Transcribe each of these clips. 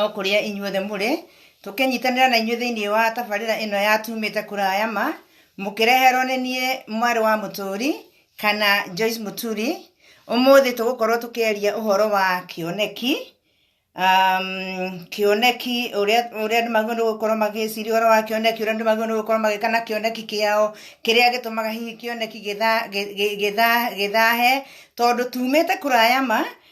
o kũrĩa inyuothe mũrĩ tũkĩnyitanĩra na inyuĩ thĩinĩ wa tabarĩra ĩno ya tumĩte kũraya ma mũkĩreherwo nĩ niĩ mwarĩ wa mũtũri kana Joyce Mũturi ũmũthĩ tũgũkorwo tũkĩaria ũhoro wa kĩoneki um, kĩoneki ũrĩa ũrĩa andũ magĩrĩirwo nĩ gũkorwo magĩciria ũhoro wa kĩoneki ũrĩa andũ magĩrĩirwo nĩ gũkorwo magĩka na kĩoneki kĩao kĩrĩa gĩtũmaga hihi kĩoneki gĩtha- gĩ- gĩ- gĩtha- gĩthahe tondũ tumĩte kũraya ma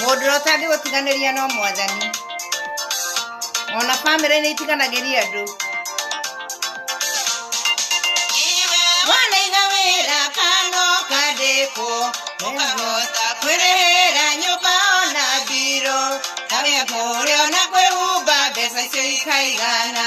Mũndũ ũrĩa ũtangĩgũtiganĩria no mwathani. Ona bamĩrĩ nĩ itiganagĩria andũ. Wanaiga wĩra kano kandĩkwo, ũkahota kwĩrĩhĩra nyũmba ona mbirũ. Kawĩra kũrĩa ona kwĩhumba mbeca icio ikaigana.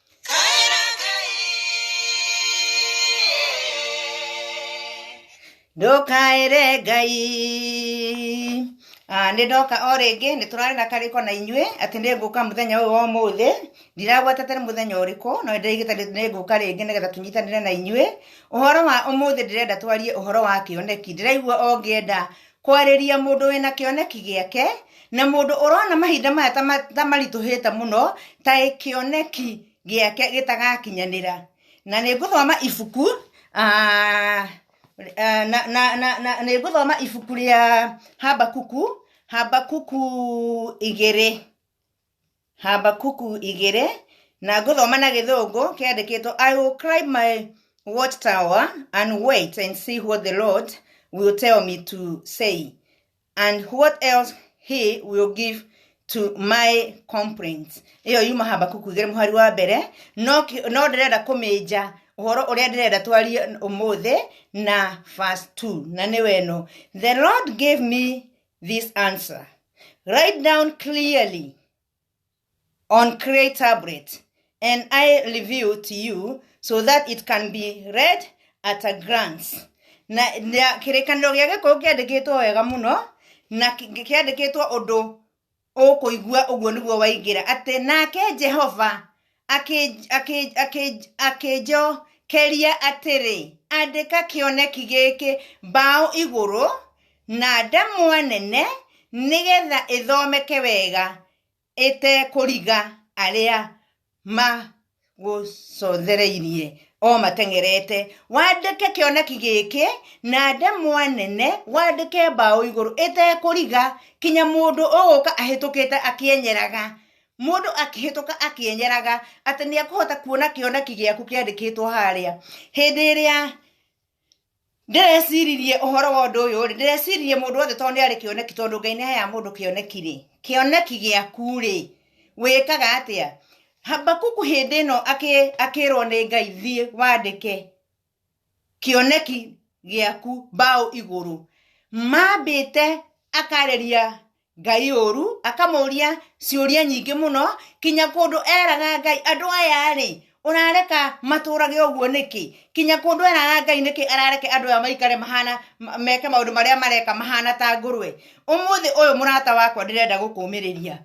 ndũkaĩre ngai Ah, nĩ ndoka o rĩngĩ nĩ tũrarĩ na karĩko na inyuĩ atĩ nĩ ngũka mũthenya ũyũ wa ũmũthĩ ndiragwetete nĩ mũthenya ũrĩkũ no nĩndĩraigĩte nĩ ngũka rĩngĩ nĩgetha tũnyitanĩre na inyuĩ ũhoro wa ũmũthĩ ndĩrenda twarie ũhoro wa kĩoneki ndĩraigua o ngĩenda kwarĩria mũndũ wĩna kĩoneki gĩake na mũndũ ũrona mahinda maya ta ma- ta maritũhĩte mũno ta kĩoneki gĩake gĩtagakinyanĩra na nĩ ngũthoma ibuku ah, ah, na, na, na, na, nĩ ngũthoma ibuku rĩa habakuku habakuku igĩrĩ Habakuku igĩrĩ na ngũthoma na gĩthũngũ kĩandĩkĩtwo I will climb my watchtower and wait and see what the Lord will tell me to say and what else he will give to my complaints ĩyo yuma Habakuku igĩrĩ mũhari wa mbere no kĩ- no ndĩrenda kũmĩnja ũhoro ũrĩa ndĩrenda twarie ũmũthĩ na verse 2 na nĩ weno the Lord gave me this answer. Write down clearly on Cray tablet and I reveal to you so that it can be read at a glance. Na, na kĩrĩkanĩro gĩa gĩkũyũ kĩandĩkĩtwo wega mũno na kĩ- kĩandĩkĩtwo ũndũ ũkũigua ũguo nĩguo waingĩra atĩ nake jehova akĩ- akĩ- akĩ- akĩnjokeria atĩrĩ andĩka kĩoneki gĩkĩ mbaũ igũrũ na ndamwa nene nĩgetha ĩthomeke wega ĩtekũriga arĩa magũcothereirie o mateng'erete wandĩke kĩoneki gĩkĩ na ndemwa nene wandĩke mbaũ igũrũ ĩtekũriga kinya mũndũ ũgũka ahĩtũkĩte akĩenyeraga mũndũ akĩhĩtũka akĩenyeraga atĩ nĩ ekũhota kuona kĩoneki gĩaku kĩandĩkĩtwo harĩa hĩndĩ ĩrĩa ndĩreciririe ũhoro wa ũndũ ũyũ rĩ ndĩreciririe mũndũ wothe tondũ nĩ arĩ kĩoneki tondũ ngai nĩ aheaga mũndũ kĩoneki rĩ kĩoneki gĩaku rĩ wĩkaga atĩa habakuku hĩndĩ ĩno akĩ- akĩrwo nĩ ngai thiĩ wandĩke kĩoneki gĩaku mbaũ igũrũ mambĩte akarĩria ngai ũru akamũria ciũria nyingĩ mũno kinya kũndũ eraga ngai andũ aya rĩ ũrareka matũrage ũguo nĩkĩ kinya kũndũ eraga ngai nĩkĩ arareke andũ aya maikare mahana ma- meke maũndũ marĩa mareka mahana ta ngũrwe ũmũthĩ ũyũ mũrata wakwa ndĩrenda gũkũmĩrĩria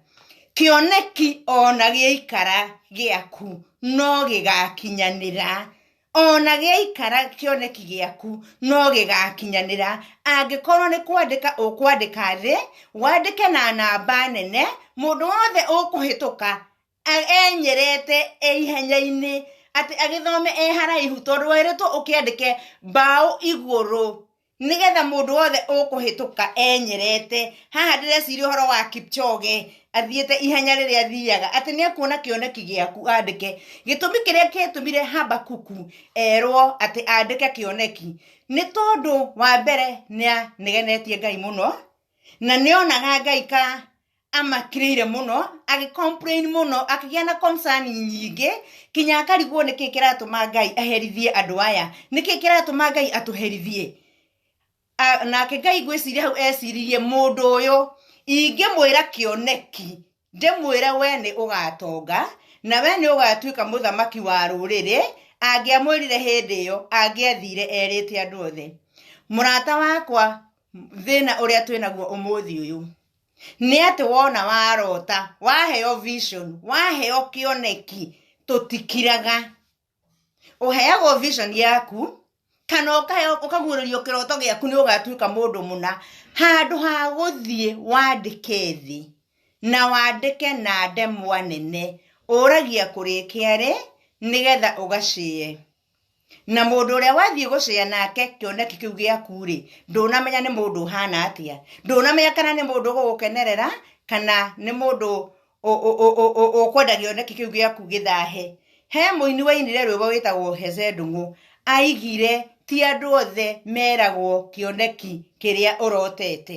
kĩoneki ona gĩaikara gĩaku no gĩgakinyanĩra ona gĩaikara kĩoneki gĩaku no gĩgakinyanĩra angĩkorwo nĩ kwandĩka ũkwandĩka thĩ wandĩke na namba nene mũndũ wothe ũkũhĩtũka a- enyerete e ihenya-inĩ atĩ agĩthome e haraihu tondũ wĩrĩtwo ũkĩandĩke mbaũ igũrũ nĩgetha mũndũ wothe ũkũhĩtũka enyerete haha ndĩreciria ũhoro wa kipchoge athiĩte ihenya rĩrĩa athiaga atĩ nĩ ekuona kĩoneki gĩaku andĩke gĩtũmi kĩrĩa kĩatũmire habakuku erwo atĩ andĩke kĩoneki nĩ tondũ wa mbere nĩanegenetie ngai mũno na nĩonaga ngai ka amakirĩire mũno agĩ complain mũno akĩgĩa na concern nyingĩ kinya akarigwo nĩkĩ kĩratũma ngai aherithie andũ aya nĩkĩ kĩratũma ngai atũherithie A- nake ngai ngwĩciria hau eciririe mũndũ ũyũ ingĩmwĩra kĩoneki ndĩmwĩre we nĩ ũgatonga na we nĩ ũgatuĩka mũthamaki wa rũrĩrĩ angĩamwĩrire hĩndĩ ĩyo angĩathire erĩte andũ othe mũrata wakwa thĩna ũrĩa twĩnaguo ũmũthĩ ũyũ nĩ atĩ wona warota waheo vision waheo kĩoneki tũtikiraga ũheagwo vision yaku kana ũkahe- ũkaguũrĩrio kĩroto gĩaku nĩ ũgatuĩka mũndũ mũna handũ ha gũthiĩ wandĩke thĩ na wandĩke na ndemwa nene ũragia kũrĩkia rĩ nĩgetha ũgacie na mũndũ ũrĩa wathiĩ gũcea nake kĩoneki kĩu gĩaku-rĩ ndũnamenya nĩ mũndũ ũhana atĩa ndũnamenya kana nĩ mũndũ ũgũgũkenerera kana nĩ mũndũ ũ- ũ- ũ- ũ- ũ- ũkwenda kĩoneki kĩu gĩaku gĩthahe he mũini wainire rwĩmbo wĩtagwo hece ndũng'ũ aigire ti andũ othe meragwo kĩoneki kĩrĩa ũrotete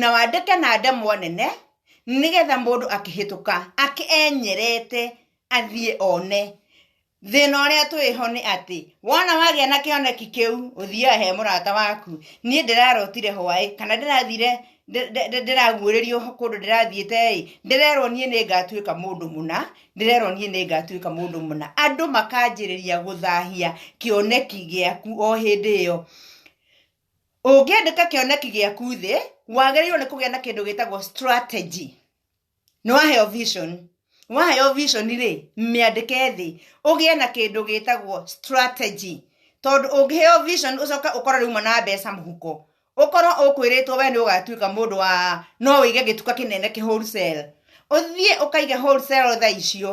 na wandĩke na ndemwa nene nĩgetha mũndũ akĩhĩtũka akĩ enyerete athiĩ one thĩna ũrĩa twĩho nĩ atĩ wona wagĩa na kĩoneki kĩu ũthiaga he mũrata waku niĩ ndĩrarotire hwaĩ kana ndĩrathire ndĩ- ndĩ- ndĩ- ndĩraguũrĩrio kũndũ ndĩrathiĩte-ĩ ndĩrerwo niĩ nĩ ngatuĩka mũndũ mũna ndĩrerwo niĩ nĩ ngatuĩka mũndũ mũna andũ makanjĩrĩria gũthahia kĩoneki gĩaku o hĩndĩ ĩyo ũngĩandĩka kĩoneki gĩaku thĩ wagĩrĩirwo nĩ kũgĩa na kĩndũ gĩtagwo strategy nĩ waheo vision waheo vision rĩ mĩandĩke thĩ ũgĩe na kĩndũ gĩtagwo strategy tondũ ũngĩheo vision ũcoka ũkorwo rĩu na mbeca mũhuko ũkorwo ũkwĩrĩtwo we nĩ ũgatuĩka mũndũ wa no wĩige gĩtuka kĩnene kĩ wholesale ũthiĩ ũkaige wholesale thaa icio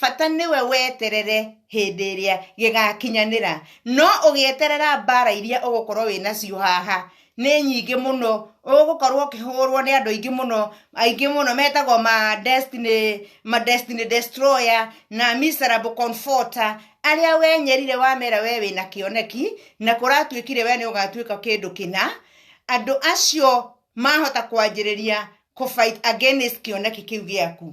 bata nĩwe weterere hĩndĩ ĩrĩa gĩgakinyanĩra no ũgĩeterera mbara iria ũgũkorwo wĩ nacio haha nĩ nyingĩ mũno ũgũkorwo ũkĩhũrwo nĩ andũ aingĩ mũno aingĩ mũno metagwo ma destiny ma destiny destroyer na miserable comforter arĩa wenyerire wamera we wĩna kĩoneki na kũratuĩkire we nĩ ũgatuĩka kĩndũ kĩna andũ acio mahota kwanjĩrĩria kũ fight against kĩoneki kĩu gĩaku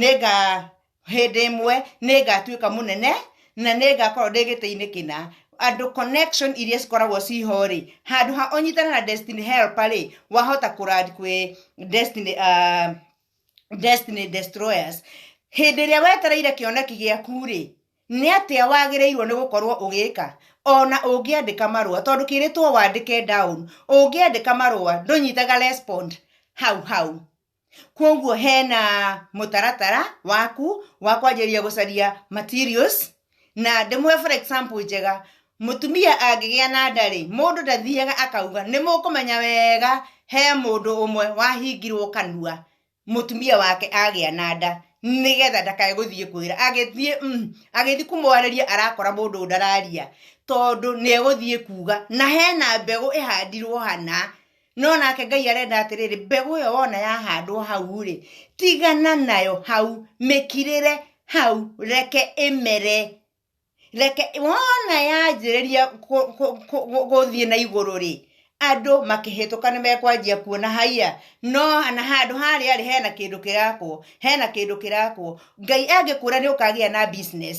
nĩnga hĩndĩ ĩmwe nĩngatuĩka mũnene na nĩngakorwo ndĩ gĩtĩ-inĩ kĩna andũ connection iria cikoragwo ciho rĩ handũ ha ũnyitane na destiny helper rĩ wahota kũrandi kwĩ destiny uh, destiny destroyers hĩndĩ ĩrĩa wetereire kĩoneki gĩaku rĩ nĩ atĩa wagĩrĩirwo nĩ gũkorwo ũgĩka ona ũngĩandĩka marũa tondũ kĩrĩtwo wandĩke down ũngĩandĩka marũa ndũnyitaga respond hau hau kwoguo hena mũtaratara waku wa kwanjĩrĩria gũcaria materials na ndĩmũhe for example njega mũtumia angĩgĩa na ndarĩ mũndũ ndathiaga akauga nĩ mũkũmenya wega he mũndũ ũmwe wahingirwo kanua mũtumia wake agĩa na nda nĩgetha ndakae gũthiĩ kwĩra agĩthiĩ mm, agĩthiĩ kũmwarĩria arakora mũndũ ndararia tondũ nĩ egũthiĩ kuga na hena mbegũ ĩhandirwo hana no nake ngai arenda atĩrĩrĩ mbegũ ĩyo wona yahandwo hau rĩ tigana nayo hau mĩkirĩre hau reke ĩmere reke wona yanjĩrĩria kũ- kũ- kũ- kũ- gũthiĩ na igũrũ rĩ andũ makĩhĩtũka nĩ mekwanjia kuona haiya no na handũ harĩa rĩ hena kĩndũ kĩrakwo hena kĩndũ kĩrakwo ngai angĩkũra nĩ ũkagĩa na business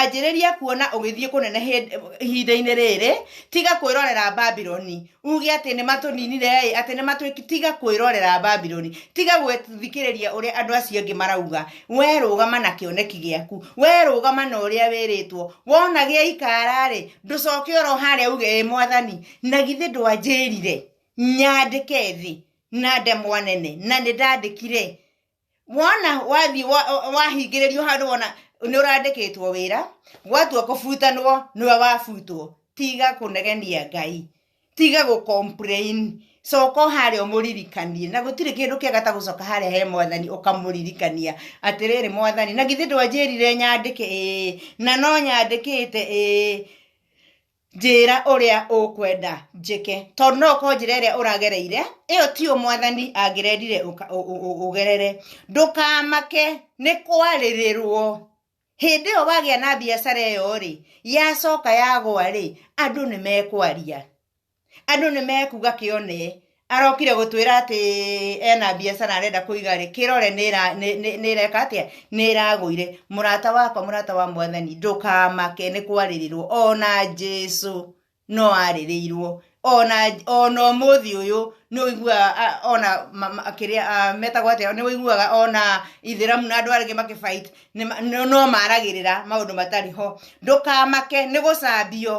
anjĩrĩria kuona ũgĩthiĩ kũnene hĩndĩ- ihinda-inĩ rĩrĩ tiga kwĩrorera babiloni uge atĩ nĩ matũninire ĩ atĩ nĩ matwĩki tiga kwĩrorera babiloni tiga gwĩthikĩrĩria ũrĩa andũ acio angĩ marauga we rũgama na kĩoneki gĩaku we rũgama na ũrĩa wĩrĩtwo wona gĩa ikara-rĩ ndũcoke oro harĩa uge ĩ mwathani na githĩ ndwanjĩrire nyandĩke thĩ na ndemwa nene na nĩ ndandĩkire wona wathiĩ wa- wahingĩrĩrio handũ wona nĩ ũrandĩkĩtwo wĩra gwatua kũbutanwo nĩwe wabutwo tiga kũnegenia ngai tiga gũ complain coka harĩa ũmũririkanie na gũtirĩ kĩndũ kĩega ta gũcoka harĩa he mwathani ũkamũririkania atĩrĩrĩ mwathani na githĩ ndwanjĩrire nyandĩke ĩĩ na no nyandĩkĩte ĩĩ njĩra ũrĩa ũkwenda njĩke tondũ no ũkorwo njĩra ĩrĩa ũragereire ĩyo ti yo mwathani angĩrendire ũka- ũ- ũ- ũ- ũgerere ndũkamake nĩ kwarĩrĩrwo hĩndĩ ĩyo wagĩa na biacara ĩyo rĩ yacoka yagwa rĩ andũ nĩ mekwaria andũ nĩ mekuga kĩone arokire gũtwĩra atĩ ena biacara arenda kũiga rĩ kĩrore nĩra- nĩ- nĩ- nĩreka atĩa nĩragũire mũrata wakwa mũrata wa mwathani ndũkamake nĩ kwarĩrĩrwo ona jesu no arĩrĩirwo ona ona ũmũthĩ ũyũ nĩ ũiguaga a- ona ma- ma- kĩrĩa a, metagwo atĩa nĩ ũiguaga ona ithĩramu na andũ arĩngĩ makĩbait no maragĩrĩra maũndũ matarĩ ho ndũkamake nĩ gũcambio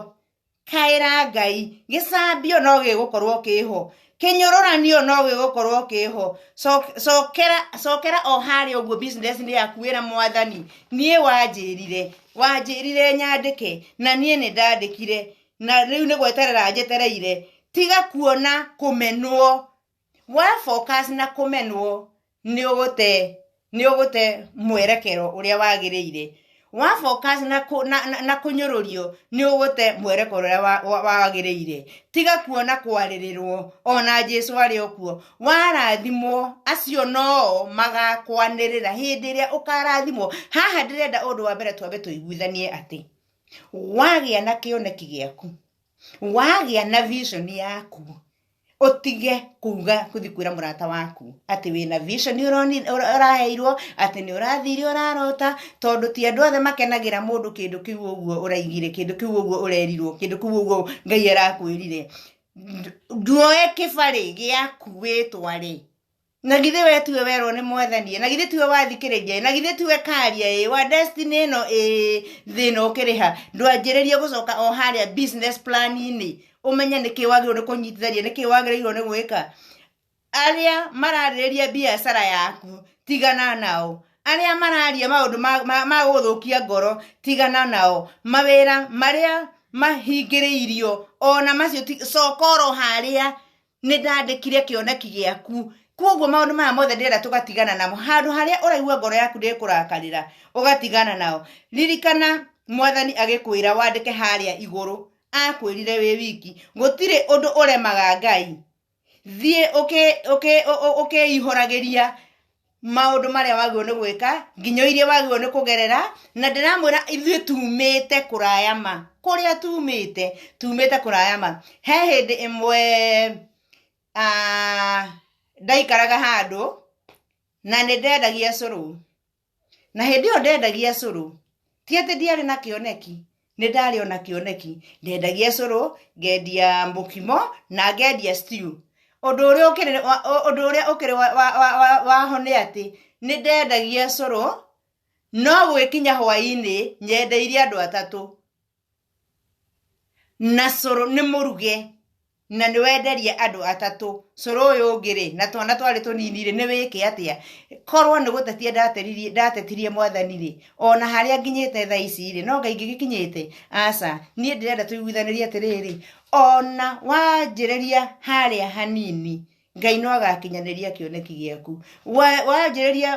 Kaĩra Ngai, gĩcambio no gĩgũkorwo kĩho, kĩnyũrũranio no gĩgũkorwo kĩho, Coke- cokera cokera o harĩa ũguo business-inĩ yaku wĩra mwathani, niĩ wanjĩrire, wanjĩrire nyandĩke, na niĩ nĩ ndandĩkire, na rĩu nĩ gweterera njetereire, tiga kuona kũmenwo, wa focus na kumenwo ni ugute ni ugute mwerekero uria wagirire wa focus na ku, na, na, na kunyorurio ni ugute mwerekero uria wa- wa- wagirire tiga kuona kwaririrwo ona Jesu ari okuo warathimwo acio noo magakwanirira hindi iria ukarathimwo haha ndirenda undu wa mbere twambe tuiguithanie ati wagĩa na kĩoneki gĩaku wagĩa na vision yaku utige kuga kuthi kwira murata waku ati wina vision uroni- ura- uraheirwo ati ni urathire urarota tondu ti andu othe makenagira mundu kindu kiu uguo uraigire kindu kiu uguo urerirwo kindu kiu uguo ngai arakwirire nduoe kibari giaku witwari na githĩ we tiwe werwo nĩ mwathanie na githĩ tiwe wathikĩrĩria na githĩ tiwe karia ĩ wa destiny ĩno ĩ thĩna ũkĩrĩha ndwanjĩrĩrie gũcoka o harĩa business plan-inĩ ũmenye nĩkĩ wagĩrĩirwo nĩ kũnyitithania nĩkĩ wagĩrĩirwo nĩ gwĩka arĩa mararĩrĩria biacara yaku tigana nao arĩa mararia maũndũ ma- ma- ma gũthũkia ngoro tigana nao mawĩra marĩa mahingĩrĩirio ona macio ti- coka oro harĩa nĩ ndandĩkire kĩoneki gĩaku koguo maũndũ maya mothe ndĩrenda tũgatigana namo handũ harĩa ũraigua ngoro yaku ndĩkũrakarĩra ũgatigana nao ririkana mwathani agĩkwĩra wandĩke harĩa igũrũ akwĩrire wĩ wiki gũtirĩ ũndũ ũremaga ngai thiĩ ũkĩihũragĩria maũndũ marĩa wagĩrĩirwo nĩ gwĩka nginya iria wagĩrĩirwo nĩ kũgerera na ndĩramwĩra ithuĩ tumĩte kũraya ma kũrĩa tumĩte tumĩte kũraya ma he hĩndĩ ĩmwe ah, ndaikaraga handũ na nĩ ndendagia cũrũ na hĩndĩ ĩyo ndendagia cũrũ ti atĩ ndiarĩ na kĩoneki nĩ ndarĩ ona kĩoneki ndendagia cũrũ ngendia mũkimo na ngendia stew ũndũ ũrĩa ũkĩrĩ wa- ũ- ũndũ ũrĩa ũkĩrĩ wa- wa- wa- wa- waho nĩ atĩ nĩ ndendagia cũrũ no gwĩkinya hwaĩ-inĩ nyendeirie andũ atatũ na cũrũ nĩ mũruge na nĩ wenderia andũ atatũ cũrũ ũyũ ũngĩ rĩ na twana twarĩ tũnini rĩ nĩ wĩke atĩa korwo nĩ gũtetia ndateririe- ndatetirie mwathani rĩ ona harĩa nginyĩte thaa ici rĩ no ngai ngĩgĩkinyĩte aca niĩ ndĩrenda tũiguithanĩrie atĩrĩrĩ ona wanjĩrĩria harĩa hanini ngai no agakinyanĩria kĩoneki gĩaku Wa- wanjĩrĩria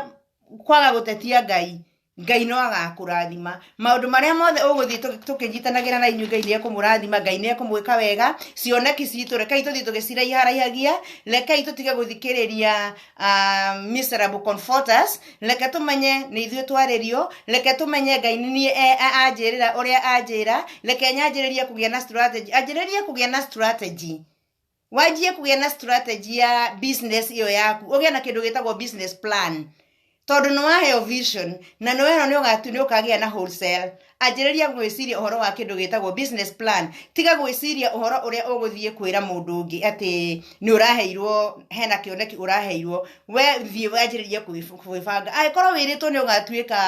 kwaga gũtetia ngai ngai no agakũrathima maũndũ marĩa mothe ũgũthiĩ tũ- tũkĩnyitanagĩra na inyuĩ ngai nĩ ekũmũrathima ngai nĩ ekũmwĩka wega cioneki citũ rekei tũthiĩ tũgĩciraiharaihagia rekei tũtige gũthikĩrĩria ah, miserable comforters reke tũmenye nĩ ithuĩ twarĩrio reke tũmenye ngai nĩ niĩ e- a- anjĩrĩra ũrĩa anjĩra reke nyanjĩrĩrie kũgĩa na strategy anjĩrĩrie kũgĩa na strategy wanjie kũgĩa na strategy ya business ĩyo yaku ũgĩa na kĩndũ gĩtagwo business plan tondũ nĩ waheo vision na nĩ wehera nĩ ũgatu nĩ ũkagĩa na wholesale anjĩrĩria gwĩciria ũhoro wa kĩndũ gĩtagwo business plan tiga gwĩciria ũhoro ũrĩa ũgũthiĩ kwĩra mũndũ ũngĩ atĩ nĩ ũraheirwo hena kĩoneki ũraheirwo we thiĩ wanjĩrĩrie kwĩbanga angĩkorwo wĩrĩtwo nĩ ũgatuĩka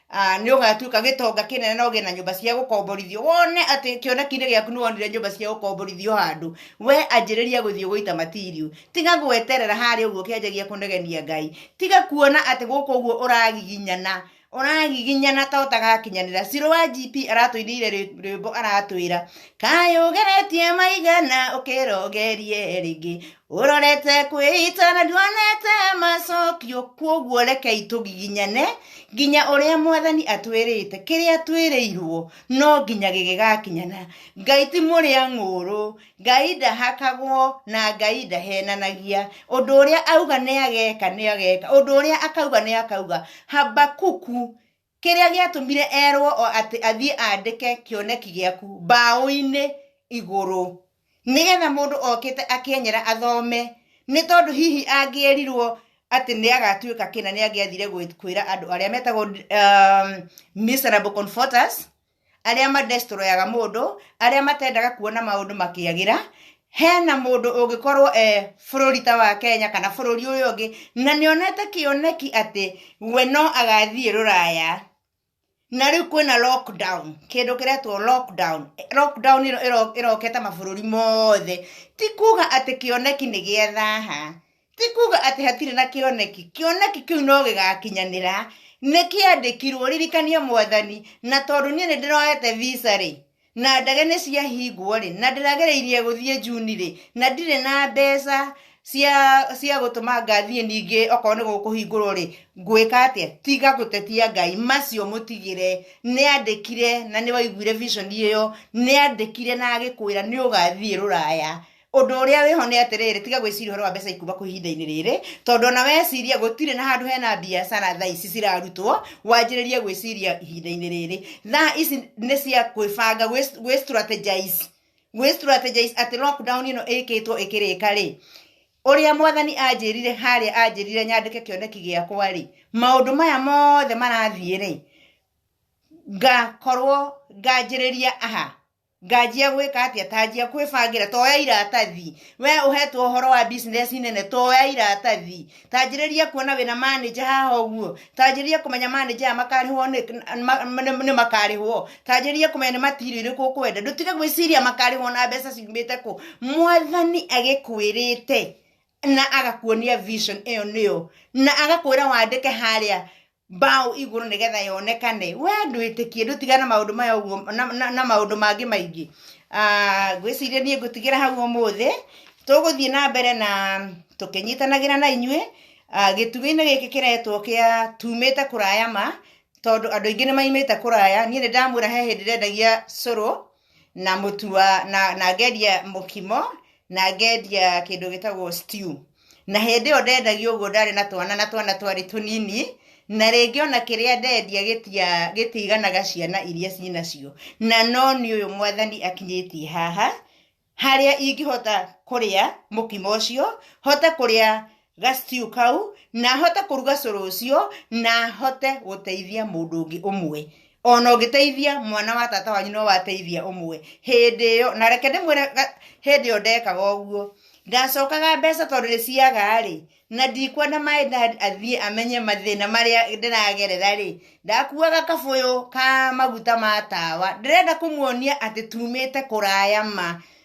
Ah, nĩ ũgatuĩka gĩtonga kĩnene na ũgĩe na nyũmba cia gũkomborithio wone atĩ kĩoneki-inĩ gĩaku nĩ wonire nyũmba cia gũkomborithio handũ we anjĩrĩria gũthiĩ gũita matirio tiga gweterera harĩa ũguo ũkĩanjagia kũnegenia ngai tiga kuona atĩ gũkũ ũguo ũragiginyana ũragiginyana ta ũtagakinyanĩra cirũ wa gp aratũinĩire rwĩ- rwĩmbo aratwĩra kayũgeretie maigana ũkĩrogerie rĩngĩ ũrorete kwĩita na nduonete macokio kwoguo rekei tũgiginyane nginya ũrĩa mwathani atwĩrĩte kĩrĩa twĩrĩirwo no nginya gĩgĩgakinyana ngai ti mũrĩa ng'ũrũ ngai ndahakagwo na ngai ndahenanagia ũndũ ũrĩa auga nĩageka nĩageka ũndũ ũrĩa akauga nĩakauga habakuku Kĩrĩa gĩatũmire erwo o atĩ athiĩ andĩke kĩoneki gĩaku mbaũ-inĩ igũrũ, nĩgetha mũndũ okĩte akĩenyera athome, nĩ tondũ hihi angĩerirwo atĩ nĩ agatuĩka kĩna nĩ angĩathire kwĩra andũ arĩa metagwo um, miserable comforters arĩa madestroyaga mũndũ arĩa matendaga kuona maũndũ makĩagĩra hena mũndũ ũngĩkorwo e bũrũri ta wa kenya kana bũrũri ũyũ ũngĩ na nĩonete kĩoneki atĩ we no agathiĩ rũraya na rĩu kwĩna lockdown kĩndũ kĩretwo lockdown lockdown ĩno ĩro- ĩrokete mabũrũri mothe ti kuga atĩ kĩoneki nĩ gĩa thaha ti kuga atĩ hatirĩ na kĩoneki kĩoneki kĩu no gĩgakinyanĩra nĩ kĩandĩkirwo ririkania mwathani na tondũ niĩ nĩ ndĩroete visa rĩ na ndege nĩ ciahingwo rĩ na ndĩragereirie gũthiĩ juni rĩ na ndirĩ na mbeca cia cia gũtũma ngathiĩ ningĩ okorwo nĩ gũkũhingũrwo rĩ ngwĩka atĩa tiga gũtetia ngai macio mũtigĩre nĩ andĩkire na nĩ waiguire vision ĩyo nĩ andĩkire na agĩkwĩra nĩ ũgathiĩ rũraya ũndũ ũrĩa wĩho nĩ atĩrĩrĩ tiga gwĩciria ũhoro wa mbeca ikuma kũ ihinda-inĩ rĩrĩ tondũ ona weciria gũtirĩ na handũ hena biacara thaa ici cirarutwo wanjĩrĩrie gwĩciria ihinda-inĩ rĩrĩ thaa ici nĩ cia gwĩbanga gwĩ- gwĩ strategize gwĩ strategize atĩ lockdown ĩno ĩkĩtwo ĩkĩrĩka rĩ ũrĩa mwathani anjĩrire harĩa anjĩrire nyandĩke kĩoneki gĩakwa rĩ maũndũ maya mothe marathiĩ rĩ ngakorwo nganjĩrĩria aha nganjia gwĩka atĩa tanjia kwĩbangĩra toya iratathi we ũhetwo ũhoro wa business nene toya iratathi tanjĩrĩria kuona wĩna manager haha ũguo tanjĩrĩria kũmenya manager aya makarĩhwo nĩ- ma- nĩ nĩ makarĩhwo tanjĩrĩria kũmenya nĩ matirio irĩkũ ũkwenda ndũtige gwĩciria makarĩhwo na mbeca ciumĩte kũ mwathani agĩkwĩrĩte na agakuonia vision ĩyo nĩyo na agakwĩra wandĩke harĩa mbaũ igũrũ nĩgetha yonekane we ndwĩtĩkie ndũtiga na maũndũ maya ũguo na, na, na maũndũ mangĩ maingĩ Ah, ngwĩciria niĩ ngũtigĩra hau ũmũthĩ tũgũthiĩ na mbere na tũkĩnyitanagĩra na inyuĩ Ah, gĩtugĩ-inĩ gĩkĩ kĩretwo kĩa tumĩte kũraya ma tondũ andũ aingĩ nĩ maimĩte kũraya niĩ nĩ ndamwĩra he hĩndĩ ndendagia cũrũ na mũtu wa na, na ngendia mũkimo na ngendia kĩndũ gĩtagwo stew na hĩndĩ ĩyo ndendagio ũguo ndarĩ na twana na twana twarĩ tũnini na rĩngĩ ona kĩrĩa ndendia gĩtia gĩtiiganaga ciana iria cinacio na no nĩ ũyũ mwathani akinyĩtie haha harĩa ingĩhota kũrĩa mũkimo ũcio hote kũrĩa ga stew kau na hote kũruga cũrũ ũcio na hote gũteithia mũndũ ũngĩ ũmwe ona ũngĩteithia mwana wa tata wanyu no wateithia ũmwe hĩndĩ ĩyo na reke ndĩmwĩre ga- hĩndĩ ĩyo ndekaga ũguo ndacokaga mbeca tondũ ndĩciaga rĩ na ndikwenda maĩ dad athiĩ amenye mathĩna marĩa ndĩragerera rĩ ndakuaga kabũyũ ka maguta ma tawa ndĩrenda kũmuonia atĩ tumĩte kũraya ma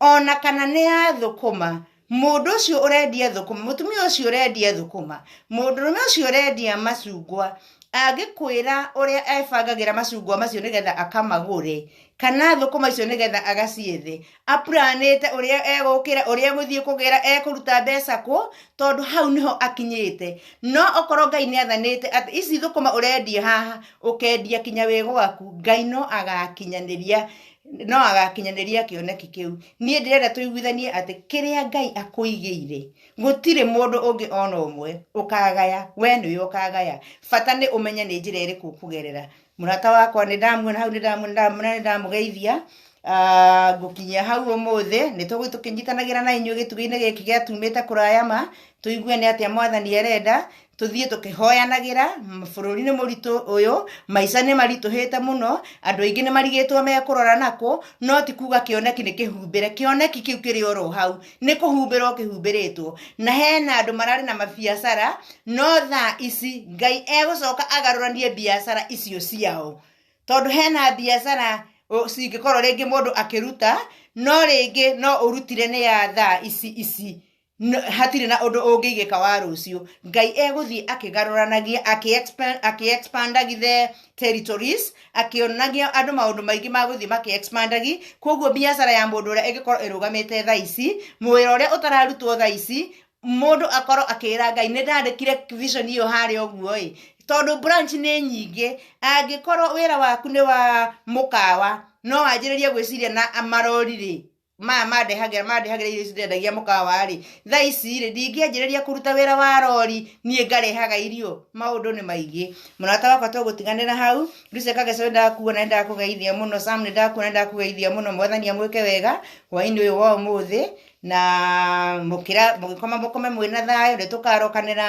ona kana nĩ ya thũkũma mũndũ ũcio ũrendia thũkũma mũtumia ũcio ũrendia thũkũma mũndũrũme ũcio ũrendia macungwa angĩkwĩra ũrĩa ebangagĩra macungwa macio nĩgetha akamagũre kana thũkũma icio nĩgetha agaciethe apuranĩte ũrĩa egũkĩra ũrĩa egũthiĩ kũgĩra ekũruta mbeca kũ tondũ hau nĩho akinyĩte no okorwo ngai nĩ athanĩte atĩ ici thũkũma ũrendia haha ũkendia kinya wĩ gwaku ngai no agakinyanĩria no agakinyanĩria kĩoneki kĩu niĩ ndĩrenda tũiguithanie atĩ kĩrĩa ngai akũigĩire gũtirĩ mũndũ ũngĩ ona ũmwe ũkagaya we nĩwe ũkagaya bata nĩ ũmenye nĩ njĩra ĩrĩkũ ũkũgerera mũrata wakwa nĩ ndamuona hau nĩ ndamuona ndamuona nĩ ndamũgeithia Ah, ngũkinyia hau ũmũthĩ nĩ tũgũthiĩ tũkĩnyitanagĩra na inyuĩ gĩtugĩ-inĩ gĩkĩ gĩatumĩte kũraya ma tũigue nĩ atĩa mwathani arenda tũthiĩ tũkĩhoyanagĩra bũrũri nĩ mũritũ ũyũ maica nĩ maritũhĩte mũno andũ aingĩ nĩ marigĩtwo mekũrora nakũ no ti kuga kĩoneki nĩ kĩhumbĩre kĩoneki kĩu kĩrĩ oro hau nĩ kũhumbĩrwo kĩhumbĩrĩtwo na hena andũ mararĩ na mabiacara no thaa ici ngai egũcoka agarũranie biacara icio ciao tondũ hena biacara ũ- cingĩkorwo rĩngĩ mũndũ akĩruta no rĩngĩ no ũrutire nĩ ya thaa ici ici No- hatirĩ na ũndũ ũngĩigĩka wa rũciũ ngai egũthiĩ akĩgarũranagia akĩ-expa- akĩ-expandagi the territories akĩonagia andũ maũndũ maingĩ ma gũthiĩ makĩ-expandagi koguo biacara ya mũndũ ũrĩa ĩngĩkorwo ĩrũgamĩte tha ici mwĩra ũrĩa ũtararutwo tha ici mũndũ akorwo akĩra ngai nĩ ndandĩkire vision ĩyo harĩa ũguo ĩ tondũ branch nĩ nyingĩ angĩkorwo wĩra waku nĩ wa mũkawa no wanjĩrĩrie gwĩciria na marori-rĩ maya mandehagĩra mandehagĩra irio ici ndendagia mũkawa-rĩ thaa ici-rĩ ndingĩanjĩrĩria kũruta wĩra wa rori niĩ ngarehaga irio maũndũ nĩ maingĩ mũrata wakwa tũgũtiganĩra hau Lucy Kageca nĩ ndakuona nĩ ndakũgeithia mũno Sam nĩ ndakuona nĩ ndakũgeithia mũno mwathani amwĩke wega hwaĩ-inĩ ũyũ wa ũmũthĩ na mũkĩra mũgĩkoma mũkome mwĩna thayũ nĩ tũkarokanĩra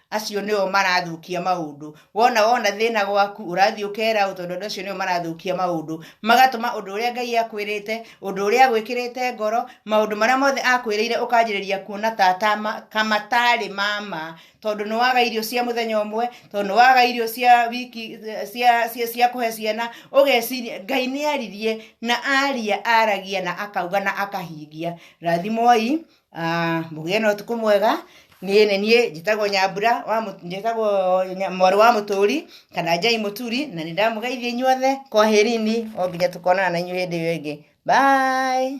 acio nĩo marathũkia maũndũ wona wona thĩna gwaku ũrathiĩ ũkera ũ tondũ andũ acio nĩo marathũkia maũndũ magatũma ũndũ ũrĩa ngai akwĩrĩte ũndũ ũrĩa agwĩkĩrĩte ngoro maũndũ marĩa mothe akwĩrĩire ũkanjĩrĩria kuona ta ta ma- kamatarĩ mama tondũ nĩ waga irio cia mũthenya ũmwe tondũ nĩ waga irio cia wiki cia, cia, cia kũhe ciana ũgeciria ngai nĩ aririe na aria aragia na akauga na akahingia rathimoi Ah, mũgĩe na ũtukũ mwega niĩ nĩ niĩ njĩtagwo nyambura wa Mũ- njĩtagwo Nya- mwarĩ wa mũtũri kana njai mũturi na nĩ ndamũgeithia inyuothe kwaherini o nginya tũkonana na inyuĩ hĩndĩ ĩyo ĩngĩ bye